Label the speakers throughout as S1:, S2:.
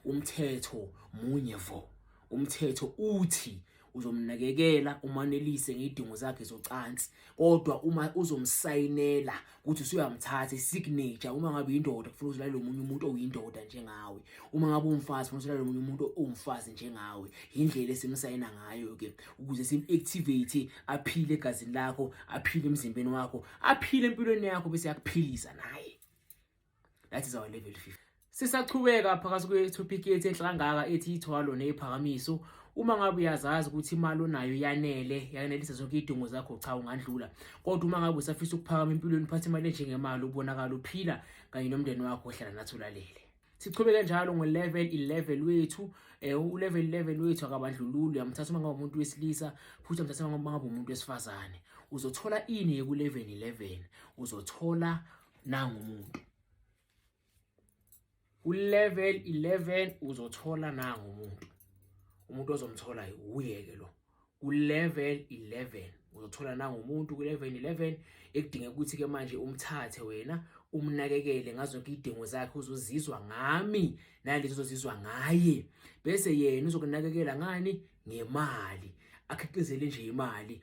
S1: Umthetho munye vo. Umthetho uthi uzomnakekela umanelise ngidingo zakhe zocansi kodwa uma uzomsayinela ukuthi usuyamthatha isignature uma ngabe indoda kufuna uzilale lomunye umuntu oyindoda njengawe uma ngabe umfazi kufuna uzilale lomunye umuntu owumfazi njengawe indlela esimsayina ngayo ke ukuze sim activate aphile egazini lakho aphile emzimbeni wakho aphile empilweni yakho bese yakuphilisa naye that is our level 50 sisachubeka phakathi kwe-topic yethu enhla kangaka ethi ithwalo neyiphakamiso uma ngabe uyazazi ukuthi imali onayo yanele yanelisa zonke iy'dingo zakho cha ungandlula kodwa uma ngabe usafisa ukuphakama empilweni uphathe imali enjengemali ubonakala uphila kanye nomndeni wakho ohlala nathi ulalele sichubeke njalo ngo-level 11 wethu um eh, u-level 11 wethu akabandlululu uyamthatha uma ngabe umuntu wesilisa futhi uyamthatha uma ngabe umuntu wesifazane uzothola ini yeku-level 11 uzothola nangu umuntu ulevel 11 uzothola nangu umuntu umuntu ozomthola uye ke lo ulevel 11 uzothola nangu umuntu kulevel 11 ekudinga ukuthi ke manje umthathe wena umnakekele ngazo zonke idingo zakhe uzozizwa ngami nalezi uzozizwa ngaye bese yena uzokunakekela ngani ngemali akhiqizele nje imali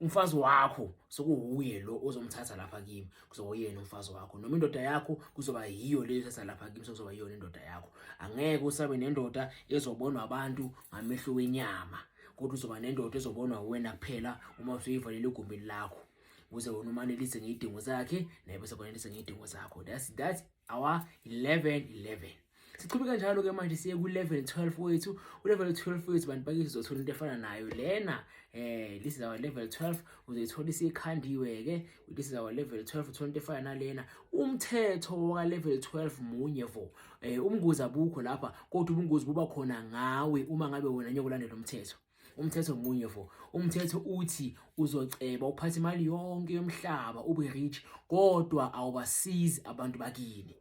S1: umfazi wakho sokuwuye lo ozomthatha lapha kimi kuzoba uyena umfazi wakho noma indoda yakho kuzoba yiyo le ethatha lapha kimi sokuzoba yiyona indoda yakho angeke usabe nendoda ezobonwa abantu ngamehlo wenyama kodwa uzoba nendoda ezobonwa wena kuphela uma usuyivalele egumbini lakho ukuze wona umanelise ngey'dingo zakhe naye bese kwanelise ngey'dingo zakho that's that awa 11 11 siqhubeka njalo ke manje siye ku-level 12 wethu u-level 12 wethu bantu bakithi uzothola into efana nayo lena eh this is our level 12 uzoyithola isikhandiwe-ke this is our level 12 uthola into efana nalena umthetho waka-level 12 munye vo um umngozi abukho lapha kodwa ubungozi buba khona ngawe uma ngabe wena nyokulandela umthetho umthetho munye fo umthetho uthi uzoceba uphathe imali yonke yomhlaba ube rich kodwa awubasizi abantu bakini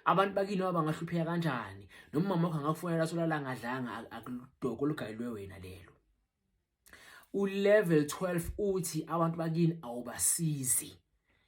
S1: abantu bakini baba ngahlupheka kanjani noma mama wakho angakufonela solala ngadlanga akudoko olugayilwe wena lelo ulevel 12 uthi abantu bakini awubasizi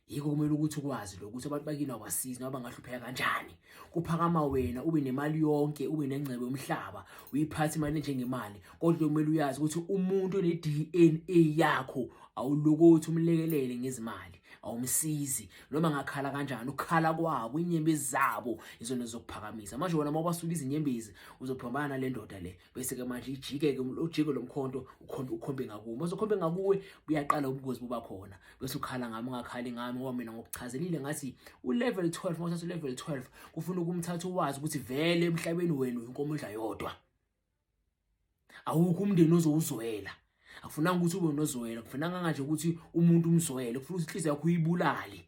S1: yiko kumele ukuthi ukwazi lokho ukuthi abantu bakini awasizi noma bangahlupheka kanjani kuphakama wena ube nemali yonke ube nengcebo yomhlaba uyiphathe imali njengemali kodwa kumele uyazi ukuthi umuntu one-DNA yakho awulokothi umlekelele ngezimali awumsizi noma ngakhala kanjani ukukhala kwabo inyembezi zabo izona zokuphakamisa manje wona uma ubasuka izinyembezi uzophambana nale ndoda le bese-ke manje ijike-ke ujike lo mkhonto ukhombe ngakuwe uma uzokhombe ngakuwe buyaqala ubungozi buba khona bese ukhala ngami ungakhali ngami ngoba mina ngokuchazelile ngathi ulevel 12 uma uthatha ulevel 12 kufuna ukumthatha uwazi ukuthi vele emhlabeni wenu inkomo idla yodwa awukho umndeni ozowuzwela akufunanga ukuthi ube nozwela kufunanga nganje ukuthi umuntu umzwele kufuna ukuthi inhliziyo yakho uyibulale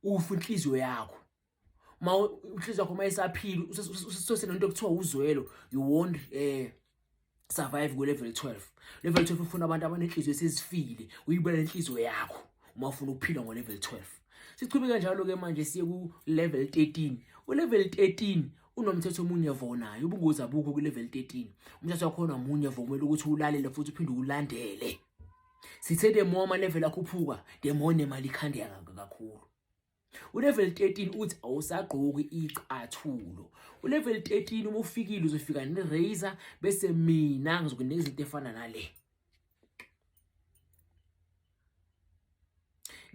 S1: ufe inhliziyo yakho ma uhliziyo yakho uma isaphile usesenento kuthiwa uzwelo you won't eh survive ku level 12 level 12 ufuna abantu abanenhliziyo esizifile uyibona inhliziyo yakho uma ufuna ukuphila ngo level 12 sichubeka njalo ke manje siye ku level 13 u level 13 unomthetho omunye vonayo ubungozi abukho ku level 13 umthetho wakhona omunye vomela ukuthi ulalele futhi uphinde ulandele sithe the more ama level akhuphuka the more nemali ikhandeka kakhulu Ulevel 13 uthi awusagqoki icathulo. Ulevel 13 uma ufikile uzofika ne razor bese mina ngizokunika izinto efana nale.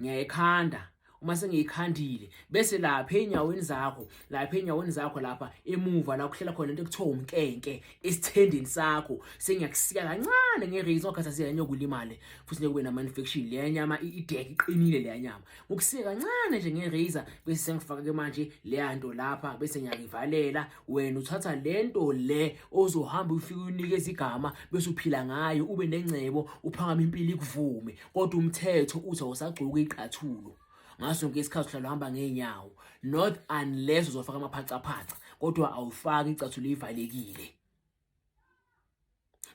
S1: Ngiyayikhanda uma sengiyikhandile bese lapha enyaweni zakho lapha enyaweni zakho lapha emuva la kuhlela khona into ekuthiwa umkenke esithendeni sakho sengiyakusika kancane ngereason okhathazile nyokulimale futhi nekube nama infection le nyama ideke iqinile le nyama ukusike kancane nje nge-razor bese sengifake manje leya nto lapha bese ngiyayivalela wena uthatha le nto le ozohamba ufike unikeza igama bese uphila ngayo ube nengcebo uphakama impilo ikuvume kodwa umthetho uthi awusagcoki iqathulo ngaso sonke isikhathi uhlala uhamba ngeenyawo not unless uzofaka amaphacaphaca kodwa awufaki icathulo ivalekile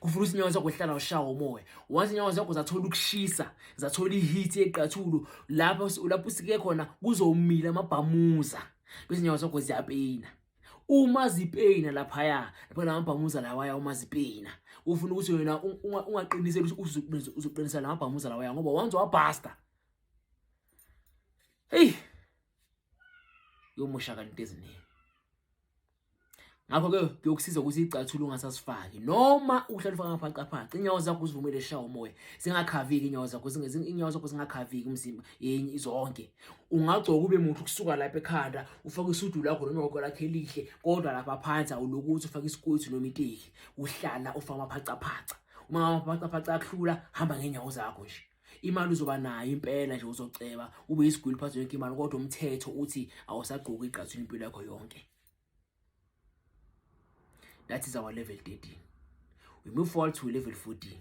S1: kuvula izinyawo zakho hlala ushawa umoya once inyawo zakho zathola ukushisa zathola iheat yeqathulo lapho lapho usike khona kuzomila amabhamuza kwezinyawo zakho ziyapeyina uma zipeyina laphaya lapho lamabhamuza lawaya uma zipeyina ufuna ukuthi wena ungaqiniseli ukuthi uzoqinisa lamabhamuza lawaya ngoba once wabhasta hey yomoshakala into eziningi ngakho ke kuyokusiza ukuthi icathulo ungasasifaki noma uhlala ufaka ngaphaqaphaqa inyawo zakho uzivumele shawa umoya zingakhaviki inyawo zakho inyawo zakho zingakhaviki umzimba yenye zonke ungagcoka ube muhle ukusuka lapha ekhanda ufake isudu lakho noma igoko lakho elihle kodwa lapha phansi awulokuthi ufake isikwethu noma iteki uhlala ufaka amaphacaphaca uma amaphacaphaca akhula hamba ngenyawo zakho nje imali uzoba nayo impela nje uzoceba ube yisigwili phansi yonke imali kodwa umthetho uthi awusagqoki igqathini impilo yakho yonke that is our level 13 we move forward to level 14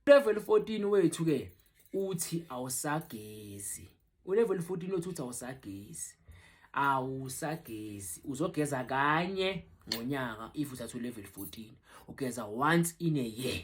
S1: level 14 wethu ke uthi awusagezi Ulevel 14 othi uthi awusagezi. Awusagezi. Uzogeza kanye ngonyaka if uthatha ulevel 14. Ugeza once in a year.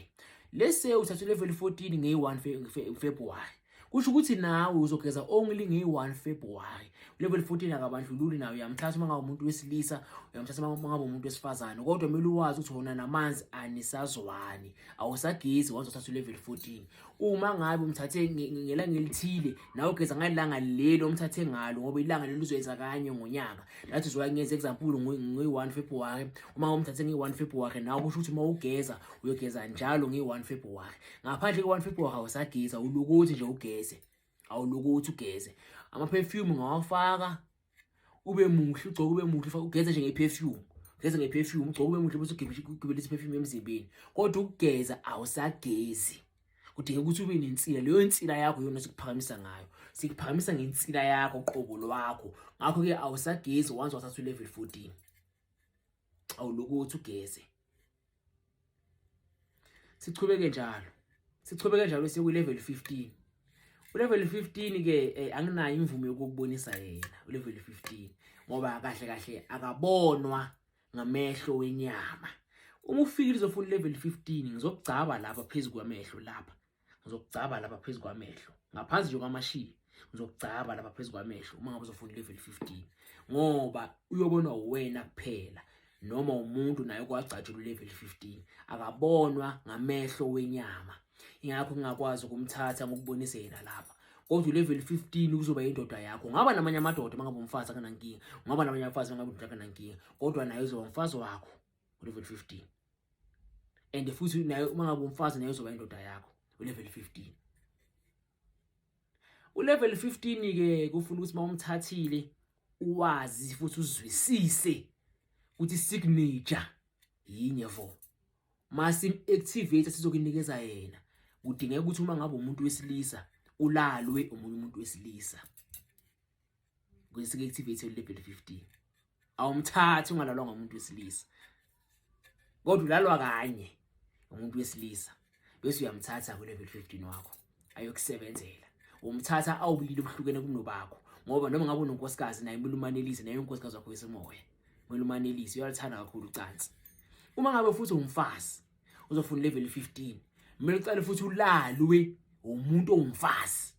S1: Let's say uthatha ulevel 14 ngeyi-1 February. Kusho ukuthi nawe uzogeza only ngeyi-1 February. Ulevel 14 akabandlululi nawe uyamthatha uma ngabe umuntu wesilisa, uyamthatha uma ngabe umuntu wesifazane. Kodwa kumele uwazi ukuthi wona namanzi anisazwani. Awusagezi once uthatha ulevel 14. uma ngabe umthathe ngelanga elithile nawe ugeza ngalanga lelo umthathe ngalo ngoba ilanga lelo uzoyenza kanye ngonyaka that is why ngenza example ngi-1 February uma umthathe ngi-1 February nawe kusho ukuthi uma ugeza uyogeza njalo ngi-1 February ngaphandle ke-1 February awusageza ulukuthi nje ugeze awulukuthi ugeze ama perfume ngawafaka ube muhle ugcoke ube muhle ugeze nje ngeperfume ugeze ngeperfume ugcoke ube muhle bese ugibela isiperfume emzimbeni kodwa ukugeza awusagezi kudinga ukuthi ube nensila leyo insila yakho yona sikuphakamisa ngayo sikuphakamisa ngensila yakho qobo lwakho ngakho-ke awusagezi once wathatha u-level 14 awulokhu uthi ugeze sichubeke njalo sichubeke njalo siye kwi-level 15 ulevel 15 ke eh, anginayo imvume yokubonisa yena ulevel 15 ngoba kahle kahle akabonwa ngamehlo wenyama uma ufika lizofuna ulevel 15 ngizokugcaba lapha phezulu kwamehlo lapha ngizokugcaba lapha phezu kwamehlo ngaphansi nje kwamashiya ngizokugcaba lapha phezu kwamehlo uma ngabe uzofunda level 15 ngoba uyobonwa uwena kuphela noma umuntu naye kwagcatshulwa level 15 akabonwa ngamehlo wenyama ingakho ngingakwazi ukumthatha ngokubonisa yena lapha kodwa ulevel 15 kuzoba indoda yakho ngaba namanye amadoda mangabe umfazi akanankinga ngaba namanye abafazi mangabe umfazi akanankinga kodwa naye uzoba umfazi wakho ulevel 15 and futhi naye uma ngabe umfazi naye uzoba indoda yakho ulevel 15 ulevel 15 ke kufuna ukuthi mawumthathile uwazi futhi uzwisise ukuthi signature yinye vo masim activate sizokunikeza yena kudingeka ukuthi uma ngabe umuntu wesilisa ulalwe omunye umuntu wesilisa kuyisike activate level 15 awumthathi ungalalwa ngomuntu wesilisa kodwa ulalwa kanye umuntu wesilisa bese uyamthatha ku level 15 wakho ayokusebenzela umthatha awubili ubuhlukene kunobakho ngoba noma ngabe unonkosikazi naye kumele umanelise naye unkosikazi wakho wesemoya kumele umanelise uyalithanda kakhulu ucansi uma ngabe futhi umfazi uzofuna level 15 mina ucela futhi ulalwe umuntu ongumfazi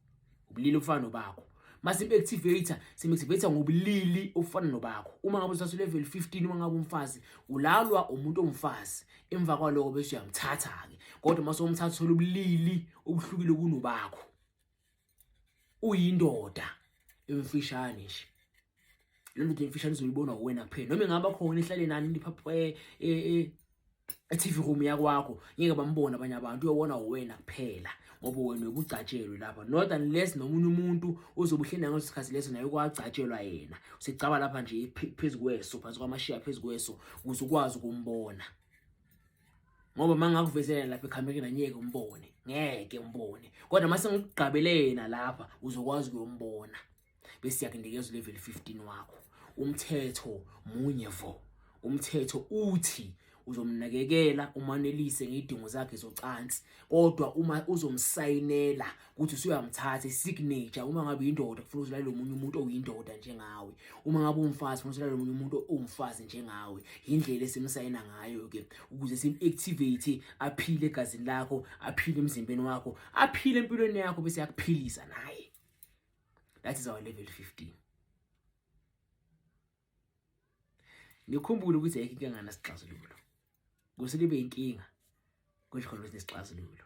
S1: ubulili ofana nobakho mase activator sim activator ngobulili ofana nobakho uma ngabe usase level 15 uma ngabe umfazi ulalwa umuntu ongumfazi emva kwaloko bese uyamthatha ke kodwa mase umthatha uthola ubulili obuhlukile kunobakho uyindoda emfishane nje le ndoda emfishane izoyibona uwena kuphela noma ingaba khona ihlale nani niphaphe e, e, e, e-TV room yakwakho ngeke bambona abanye abantu uyobona uwena kuphela ngoba wena ubugcatshelwe lapha not unless nomunye umuntu ozobuhlenda ngaleso sikhathi leso naye kwagcatshelwa yena usicaba lapha nje phezu kweso phansi kwamashiya phezu kweso ukuze ukwazi ukumbona ngoba uma ngakuvezela lapha ekhamereni anyeke umbone ngeke umbone kodwa uma sengikugqabelena lapha uzokwazi ukuyombona bese yakunikeza ulevel 15 wakho umthetho munye vo umthetho uthi uzomnakekela umanelise ngidingo zakhe zocansi kodwa uma uzomsayinela ukuthi usuyamthatha isignature uma ngabe uyindoda kufuna ukuthi lalo munye umuntu oyindoda njengawe uma ngabe umfazi kufuna ukuthi lalo munye umuntu owumfazi njengawe yindlela esimsayina ngayo ke ukuze sim-activate aphile egazini lakho aphile emzimbeni wakho aphile empilweni yakho bese yakuphilisa naye that is our level 15 ngikhumbule ukuthi ayikho inkinga nasixazululo kuse libe inkinga kusho khona ukuthi nesixazululo